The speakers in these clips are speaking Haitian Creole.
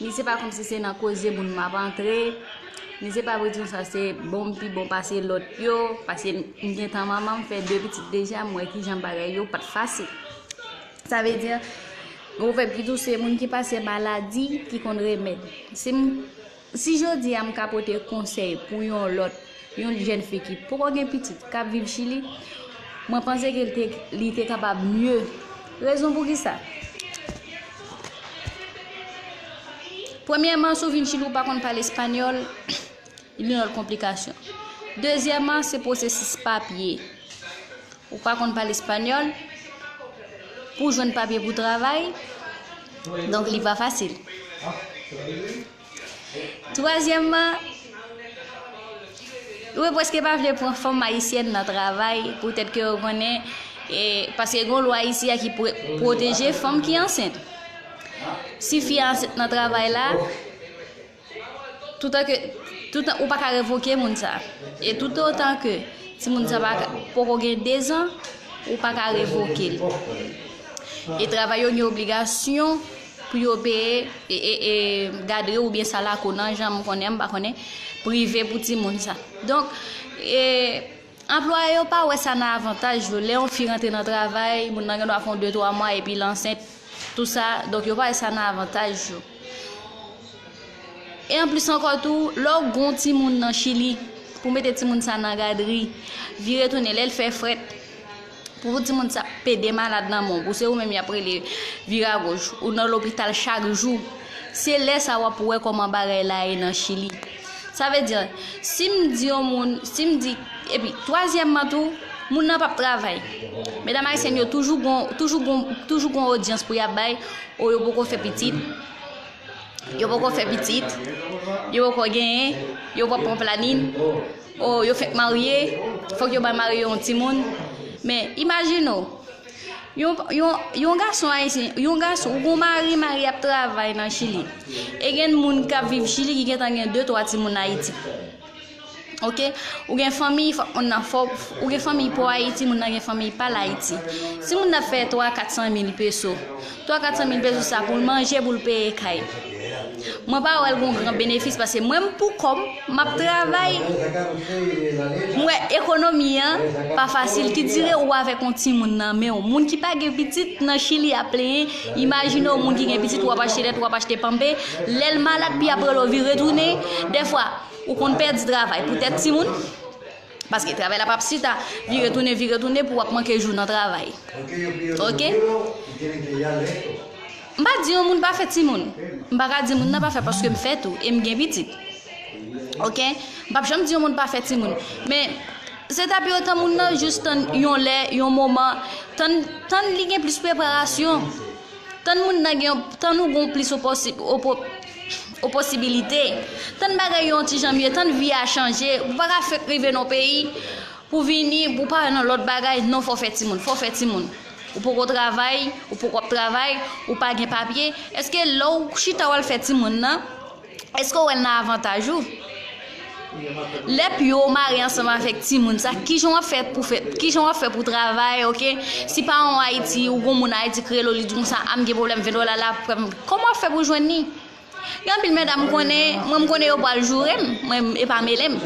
Ni se pa komsi se nan koze moun m ap antre, ni se pa pou di nou sa se bon m pi bon pase lòt yo, paske m gen tan manman m fè de pitit deja m wè kijan bagay yo pa t fasil. Sa vle di, ou fè pitit ou se moun ki pase maladi ki konn remèd. Si m si jodi a m ka pote konsèy pou yon lòt Yon jèn fi ki poko gen pitit, k ap viv Chili, mwen panse ke li te kapab mye. Rezon pou ki sa? Premyèman, si w vin Chili ou pa konn pale espanyòl, yon lòt konplikasyon. Dezyèman, se pwosesis papye. Ou pa konn pale espanyòl, pou w jwenn papye pou w travay, donk li pa fasil. Twazyèmman, yo preske pa vle pran fanm ayisyèn nan travay poutèt ke yo konnen e paske gon lwa isi a ki pwoteje fanm ki ansent. Si fi ansent nan travay la, toutan ke toutan ou pa ka revoke moun sa. E tout otan ke ti moun sa pa poko gen 2 zan, ou pa ka revoke l. E travay yo gen obligasyon pou yo peye e gadri oubyen sa lakou nan jan m konnen m pa konnen prive pou timoun sa donk e anplwaye yo pa wè sa nan avantaj yo lè yon fi rantre nan travay moun nan gen dwa fè yon 2 3 mwa epi l ansent tou sa donk yo pa wè sa nan avantaj yo e anplis ankò tou lè w gen yon timoun nan chili pou mete timoun sa nan gadri vire tounen lè l fè frèt. Pou ou di moun sa pede malad nan men w, pou se ou menm y ap rele vira goch, ou nan lopital chak jou, se lè sa w ap wè kòman bagay la ye nan Chili. Sa vle di, si m di yon moun, si m di, epi twazyèmman tou, moun nan p ap travay. Medam ayisyèn yo toujou gon, toujou gon, toujou gon odyans pou y ap bay, o yo poko fè pitit, yo poko fè pitit, yo poko genyen, yo pa pran planin. Oh yo fèk marye, fòk yo bay mari yo yon timoun. Men, imajine w, yon, yon, yon gason ayisyen, yon gason, ou gen yon mari, mari a ap travay nan Chili. E gen moun k ap viv Chili ki gentan gen de twa timoun Ayiti. Oke? Ou gen fanmiy, fòk moun nan fò, ou gen fanmiy pou Ayiti, moun nan gen fanmiy pa l Ayiti. Si moun nan fè twa, kat san mil peso. 3 400 mil pesos sa poul manje poul peye kay mwen pa wèl gon gran benefis pase mwen m pou kòm map travay m wè ekonomi an pa fasil ki dire ou avèk on timoun nan menw moun ki pa gen pitit nan chili ap plenyen imajine on moun ki gen pitit wap achte lèt wap achte panpe lèl malad pi aprè lò vire tounen dèfwa ou konn pèdi travay pou tèt timoun. Paske travay la pap chita, vire tounen vire tounen pou wap manke jou nan travay. Ok? M pa di yon moun pa fè timoun. M pa ka di moun nan pa fè paske m fè tou e m gen pitit. Ok? M pap janm di yon moun pa fè timoun. Men, se ta pi otan moun nan jis tann yon lè, yon moman, tann tann li gen plis preparasyon. Tann moun nan gen yon, tann ou gen yon plis opòsi, opo, oposibilite, tann bagay yo yon ti jan mye, tann vi a chanje, ou pa ka fenk rive nan yon peyi, pou vini, pou pa wè nan lòt bagay, non fò fè timoun, fò fè timoun. Ou poko travay, ou poko ap travay, ou pa gen papye, èske lè ou chita wal fè timoun nan. Eske ou wè l nan avantaj ou? Lè pye w mare ansanm avèk timoun sa, ki jan w ap fè pou fè, ki jan w ap fè pou travay, ok? Si paran w Ayiti, ou gen yon moun Ayiti ki rele w, li di w konsa, a m gen pwoblèm 20 dola la, fè m, kòman w ap fè pou w jwenn li? Gen anpil medam m konnen, mwen m konnen yo pral joure m, mwen e pa mele m.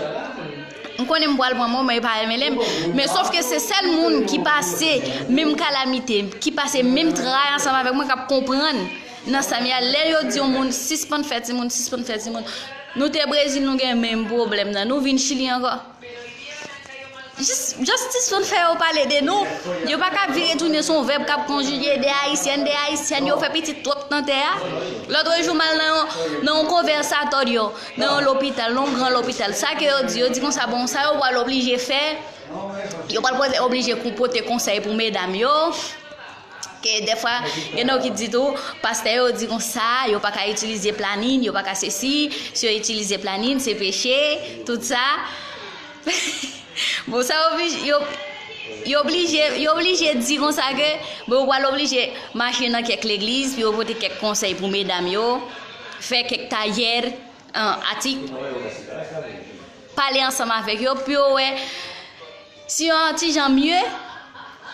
M konnen m pral pran mwen, mwen e pa mele m. Men sof ke se sèl moun ki pase menm kalamite, ki pase menm tray ansanm avèk mwen k ap konprann. Nan sam ye a lè yo di yon moun sispann fè timoun sispann fè timoun nou te brezil nou gen menm pwoblèm nan nou vin chili ankò jis just sispann fè yo pale de nou yo pa ka vire tounen son vèb kap konjige de ayisyen de ayisyen yo fè pitit twòp nan tè a lotre jou mal nan yon nan yon konvèsatorio nan yon lopital nan yon gran lopital sa ke yo di yo di konsa bon sa yo pwal oblije fè yo pwal poze oblije pote konsèy pou medam yo. Ke dèfwa gen nan yo ki di tou, pastè yo di konsa, yo pa ka itilize planin, yo pa ka sesi, si yo itilize planin, se peche, tout sa. Bon sa oblije, yo, yo oblije, yo oblije di konsa ke, bon yo pral oblije mache nan kèk legliz, pou yo pote kèk konsèy pou medam yo, fè kèk tayè, an, atik, pale ansanm avèk yo, pou yo wè. Si yo an ti jan mye,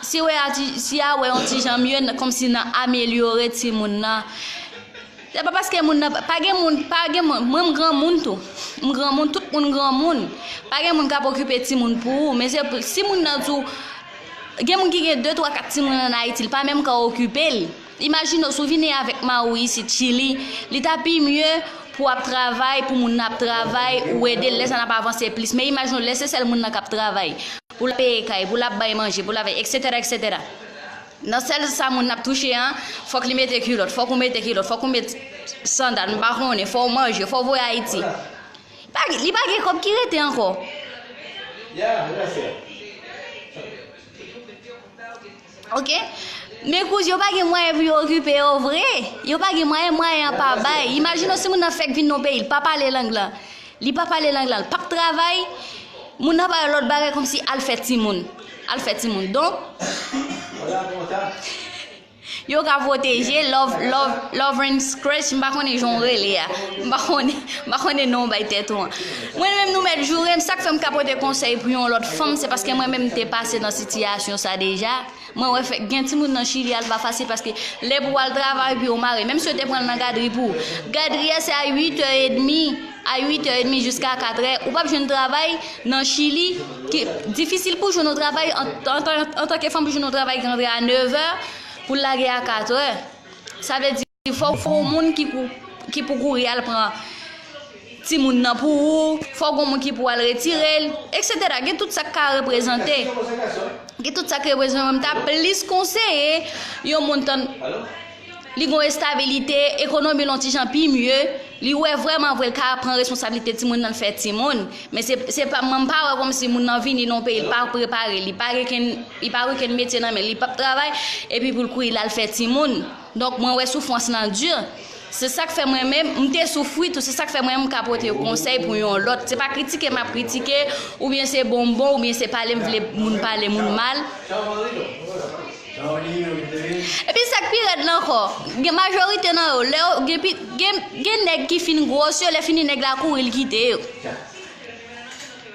si wè a ti, si a wè yon ti jan mye nan kòm si nan amelyore ti moun nan, se pa paske moun nan, pa gen moun, pa gen moun, mwen m gran moun tou, m gran moun, tout moun gran moun, pa gen moun k ap okipe ti moun pou ou, men se si moun nan di w, gen moun ki gen 2, 3, 4 ti moun an Ayiti, l pa menm ka okipe l. Imajine w si w vini avèk mari w isit Chili, li ta pi mye pou w ap travay, pou moun nan ap travay, ou ede l, lè sa n ap avanse plis. Men imajine w lè se sèl moun nan k ap travay, pou l ap peye kay, pou l ap bay manje, pou l ap eksetèra eksetèra. Nan sèl sa moun nan ap touche an, fòk li mete kilòt, fòk ou mete kilòt, fòk ou met sandal, m pa konnen, fò w manje, fò w voye Ayiti. Li pa gen kòb ki rete ankò. Ok Men kouz yo pa gen mwayen pou yo okipe yo vre Yo pa gen mwayen mwayen an pa bay Imajine w si moun nan fèk vin nan peyi l pa pale lang lan Li pa pale lang lan l pap travay Moun nan bay lòt bagay kòmsi al fè timoun Al fè timoun Donk Yo ka pwoteje love love love and scratch m pa konnen jan w rele a M pa konnen non w bay tèt ou an. Mwen menm nou mèt jourem sak fèm ka pote konsèy pou yon lòt fanm se paske mwen menm m te pase nan sitiyasyon sa deja mwen wè fèk gen timoun nan chili al pa fasil paske lè pou wal travay epi ou mare menm si yo te pranl nan gadri pou gadri a se a 8 è edmi a 8 è edmi jiska 4 è ou pap jwenn travay nan chili ki difisil pou jwenn yon travay antanke fanm pou jwenn yon travay ki antre a 9 è poul lage a 4 è sa vle di. Fòk gon moun ki pou kouri al pran timoun nan pou ou, fòk gon moun ki pou al retirel, etc. Gen tout sak ka reprezante. Gen tout sak reprezante men m ta plis konseye yon moun tann li gon estabilite, ekonomi l on ti jan pi mye, li wè vrèman vre l ka pran responsabilite timoun nan l fè timoun, men se pa mwen m pa wè kòmsi moun nan vini nan yon peyi l pa prepare, li pa gen kenn li pa gen kenn metye nan men l, li pap travay epi pou l kouri l al fè timoun. Donk mwen wè soufwans lan dur, se sak fè mwen menm, m te soufri tou, se sak fè mwen menm m ka pote yon konsèy pou yon lòt, se pa kritike map kritike, oubyen se bonbon, oubyen se pale m vle moun pale moun mal. Epi sak pi rèd lan ankò, gen majorite nan yo, lè yo gen pi, gen nèg ki fin gros yo, lè fini nèg la kouri l kite yo.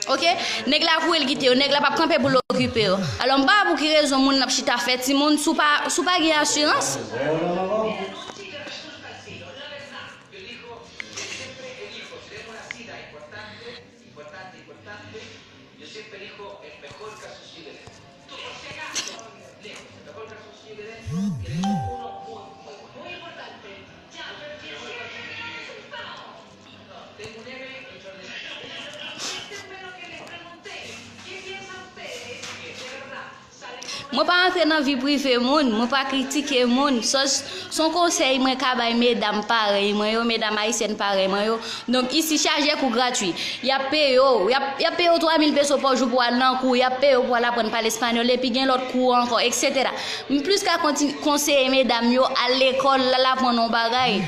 Ok neg la vouyel kite yo neg la pap kanpe poul okipe yo alò m pa wè pou ki rezon moun ap chita fè timoun sou pa sou pa gen asirans. Mwen pa antre nan vi prive moun, mwen pa kritike moun, sos son konsèy mwen ka bay medam parèy mwen yo, medam ayisyèn parèy mwen yo, donk isi chaje kou gratwi, yap peye w, yap peye w 3 mil peso pa jou pou al nan kou, yap peye w pou al aprann pale espanyòl, epi gen lòt kou ankò, eksetera. M plis ka konseye medam yo al lekòl, al aprann yon bagay.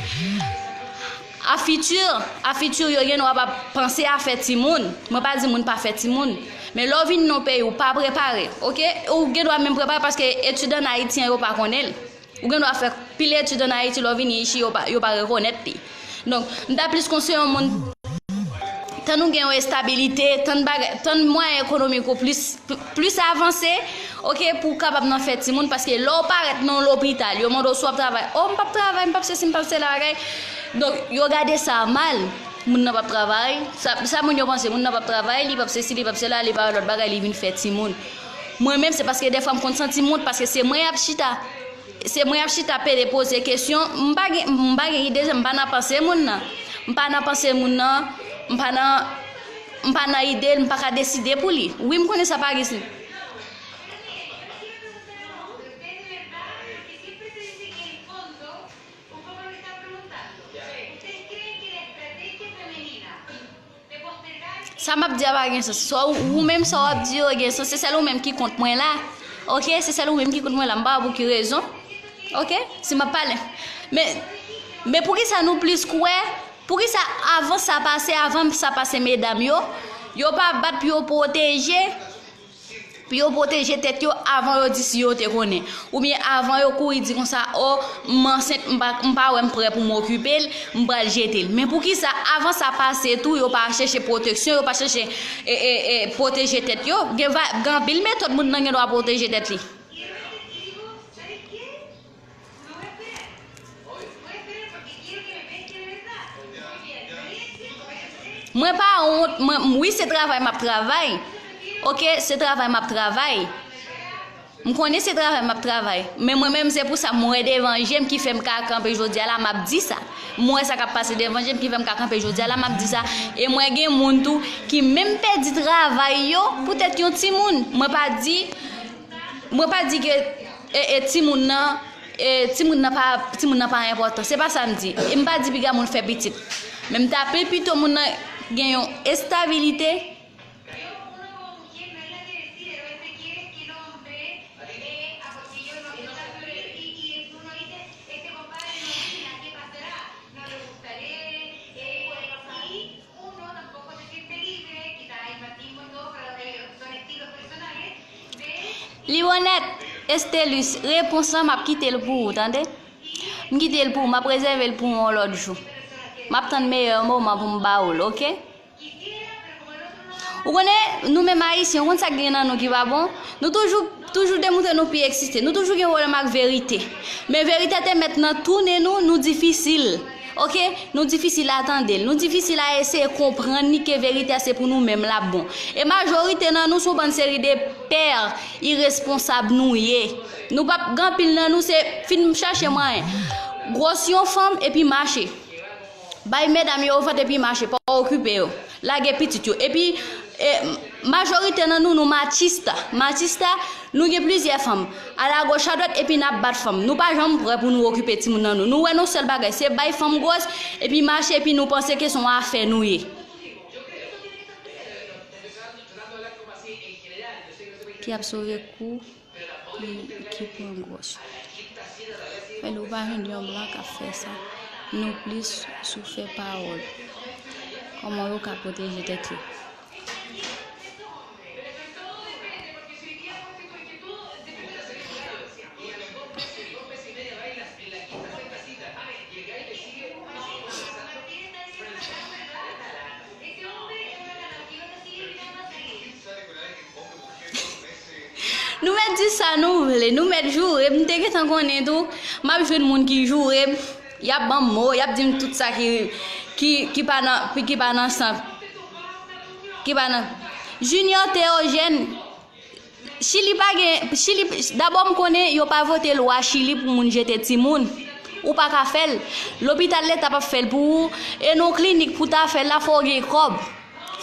A futur, a futur yo gen wap ap panse a fè timoun, mwen pa di moun pa fè timoun, men lè w vin nan yon peyi ou pa prepare ok, ou gen dwa menm prepare paske etid an ayiti an yo pa konnen l, ou gen dwa fè pil etid an ayiti lè w vini ichi yo pa rekonèt li. Donk m ta plis konseye yon moun tann ou gen yon estabilite, tann bagay, tann mwayen ekonomik ou plis. plis avanse ok pou w kapab nan fè timoun paske lè w parèt nan yon lopital yo mande w si w ap travay oh m pap travay m pap sesi m pap sela bagay donk yo gade sa mal moun nan pap travay sa moun yo panse moun nan pap travay li pap sesi li pap sela li pa yon lòt bagay li vin fè timoun mwen menm se paske defwa m konn santi m wont paske se mwen y ap chita se mwen y ap chita pede poze kesyon m pa gen m pa gen ide m pa nan panse moun nan m pa nan panse moun nan m pa nan. M pa nan ide l, m pa ka deside pou li. Wi, m konnen sa pa ris li. Sa m ap di a pa gen sans. Sa w, ou menm sa w ap di yo gen sans. Se sèl ou menm ki kont mwen la. Ok, se sèl ou menm ki kont mwen la. M pa wè pou ki rezon. Ok, si m ap pale. Men, men pou ki sa nou plis kwè. Poukisa avan sa pase avan sa pase medam yo yo pa bat pou yo pwoteje pou yo pwoteje tèt yo avan yo di si yo te konnen oubyen avan yo kouri di konsa o m ansent m pa m pa wè m prè pou m okipe l m pral jete l men poukisa avan sa pase tou yo pa chèche pwoteksyon yo pa chèche e pwoteje tèt yo gen va gen anpil metòd moun nan gendwa pwoteje tèt li. Mwen pa wont, wi se travay map travay, ok se travay map travay, m konnen se travay map travay, men mwen menm se pou sa m wè devan jem ki fèm ka kanpe jodia la map di sa, m wè sa kap pase devan jem ki fèm ka kanpe jodia la map di sa, e mwen gen moun tou ki menm pèdi travay yo poutèt yon timoun, mwen pa di, mwen pa di ke. E e timoun nan e timoun nan pa timoun nan pa enpòtan se pa sa m di e m pa di piga moun fè pitit men m ta pi pito moun nan gen yon estabilite Liwonèt, Estelus, repons lan m ap kite l pou ou tande. M kite l pou ou, m ap rezève l pou ou yon lòt jou. M ap tann meyè moman pou m ba ou l, oke? Ou konnen, nou menm Ayisyen, ou konn sa k gen nan nou ki pa bon? Nou toujou, toujou demontre nou pi eksiste. Nou toujou gen pwoblèm ak verite. Men verite te mèt nan tounen nou, nou difisil. Ok Nou difisil a tande l Nou difisil a eseye konprann li ke verite a se pou nou menm lap bon E majorite nan nou son bann seri de père iresponsab nou ye Nou pap gen anpil nan nou se fin chache mwayen Gwòs yon fanm epi mache Bay medam yo ofant epi mache pa okipe yo. Lage pitit yo. Epi e majorite nan nou nou machista. Machista, nou gen plizyè fanm. Alagoch adwat epi nap bat fanm. Nou pa janm prè pou nou okipe timoun nan nou. Nou wè nou sèl bagay se bay fanm gwòs epi mache epi nou panse ke son afè nou ye. Ki ap sove kou. Li ki pwan gwòs. Men nou pa jwenn yon blan kap fè sa. Nou plis sou fè pawòl. Koman yo ka pwoteje tèt yo. Nou mèt di sa nou vle, nou mèt joure m, m te gentan konnen tou m ap jwenn moun ki joure m, y ap ban m mo, y ap di m tout sa ki pa nan, ki pa nan san, ki pa nan. Junior Théogène. Chili pa gen chili dabò m konnen yo pa vote lwa chili pou moun jete timoun ou pa ka fè l lopital leta pap fè l pou ou e nan w klinik pou ta fè l la fò w gen kòb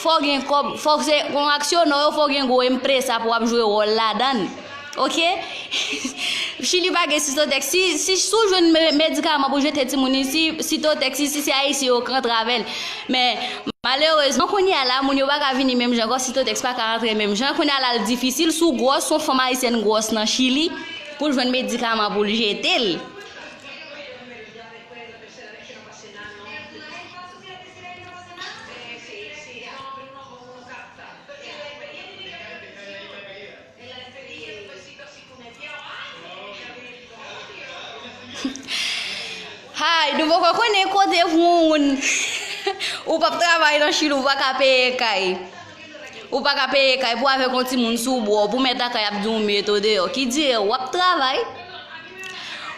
fò w gen kòb fò w se yon aksyonè yo fò w gen gwo empresa pou w ap jwe wòl ladan l ok chili pa gen sitotèks si si w jwenn medikaman pou jete timoun isi sitotèks isi se ayisyen yo k rantre avè l. Men, malerezman, kounye a la, moun yo pa ka vini menm jan ankò, Sitotèks pa ka antre menm jan. Kounye a la, l difisil, si w gwòs, si yon fanm ayisyèn gwòs nan Chili, pou l jwenn medikaman pou l jete l. Hi nou poko konnen kote pou yon moun ou pap travay nan chili ou paka peye kay ou paka peye kay pou avèk yon timoun sou bro pou mèt lakay ap di w met ou deyò ki dire w ap travay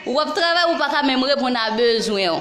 ou ap travay ou paka menm reponn a bezwen w.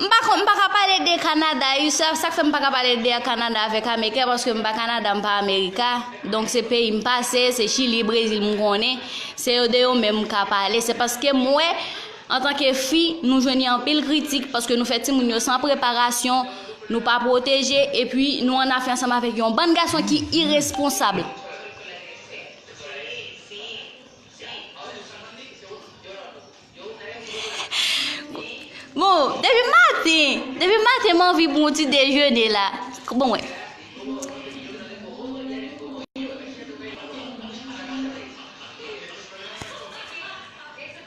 M pa kon, m pa ka pale de Kanada ui, sa k fè m pa ka pale de Kanada avèk Ameriken paske m pa Kanada, m pa Amerika, donk se peyi m pase, se Chili, Brezil m konnen, se yo de yo menm m ka pale, se paske m wè antanke fi nou jwenn yon anpil kritik paske nou fè timoun yo san preparasyon, nou pa pwoteje epi nou annafè ansanm avèk yon bann gason ki iresponsab. Bon, depi maten, depi maten m anvi bon ti dejene la. Bon wè.